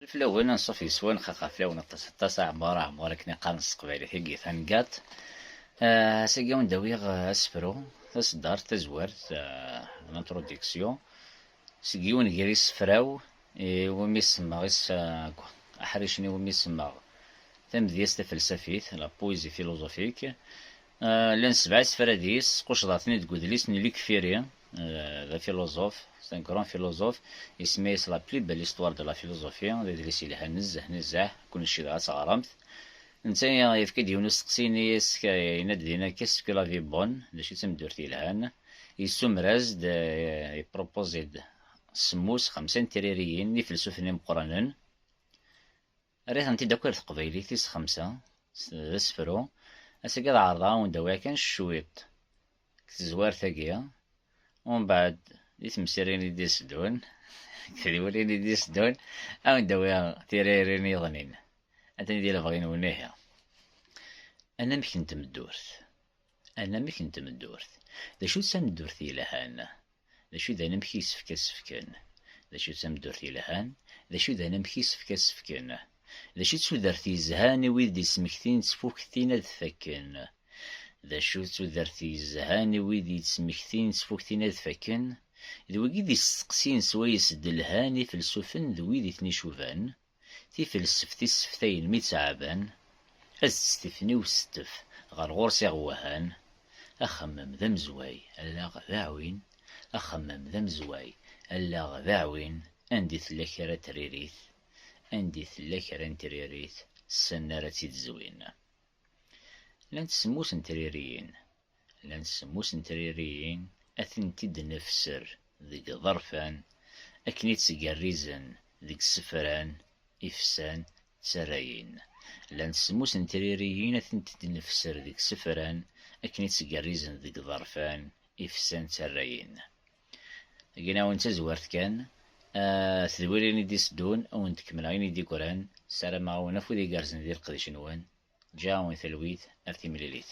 Leflawen anṣuf yeswan xaxaflawen aṭas aṭas, aɛmur aɛmur akken i qqaren s teqbaylit i yifan gaṭ. Ass-agi awen-d awiɣ asefru, taseddart, tazwert, l'introduction, seg yiwen ger isefra-w i wumi semmeɣ isefra, aḥricen i wumi semmeɣ Tamedyazt tafelsafit, la poésie philosophique, Eh, llan sebɛa isefra deg-s, squcḍeɣ-ten-id deg udlis n Luc Ferry, eh, d afiluẓuf, c'est un grand philosophe, isemma-yas La plus belle histoire de la philosophie, d adlis yelhan nezzeh nezzeh, kullec yebɣa ad teɣremt. Netta yefka-d yiwen usteqsi ini as yenna-d dinna qu'est-ce que la vie bonne, d acu i d tameddurt yelhan, yessumer-as-d, eh, il propose-d semmus, xemsa n tririyin n ifelsufen imeqqranen, Rriɣ-tent-id akk ar teqbaylit tis xemsa, d asefru, ass-agi ad ɛerḍeɣ ad wen-d-awiɣ kan cwiṭ deg tezwart-agi, umbeɛd di temsirin i d-iteddun d tedwilin i d-iteddun ad wen-d-awiɣ tiririn iḍnin, atni di lebɣi-nwen ihi. Anamek n tmeddurt Anamek n tmeddurt, d acu-tt tameddurt yelhan? D acu i d anamek i yessefk ad sefken? D acu d tameddurt yelhan? D acu d anamek i yessefk ad sefken? D acu d tudert yezhan i wid d-yettmektin ttfuktin ad fakken? D acu d tudert yezhan i wid yettmektin ttfuktin ad fakken? D wigi d isteqsiyen s wayes d-lhan ifelsufen d wid i ten-icuban. Tifelseft i sseftayen mi ttɛaban, ad tt-tifni usettef ɣer ɣur-s iɣewwahan, Axemmem d amezway, allaɣ d aɛwin, Axemmem d amezway, allaɣ d aɛwin, Anda i tella kra n tririt, Anda i tella kra n tririt, ssnen ara tt-id-zwin. Llant semmus n tririyin. Llant semmus n tririyin ad tent-id-nefser deg yiḍerfan akken i ttgerrizen deg isefran, ifsan, d tarrayin. Llant semmus n tririyin ad tent-id-nefser deg isefran akken i ttgerrizen deg yiḍerfan, ifsan, d tarrayin. Gin-awen tazwart kan, tedwil ayen i d-iteddun, ad awen-d-kemmleɣ ayen i d-yeggran. Ssarameɣ-awen afud igerrzen di leqdic-nwen. Ǧǧiɣ-awen talwit ar timlilit.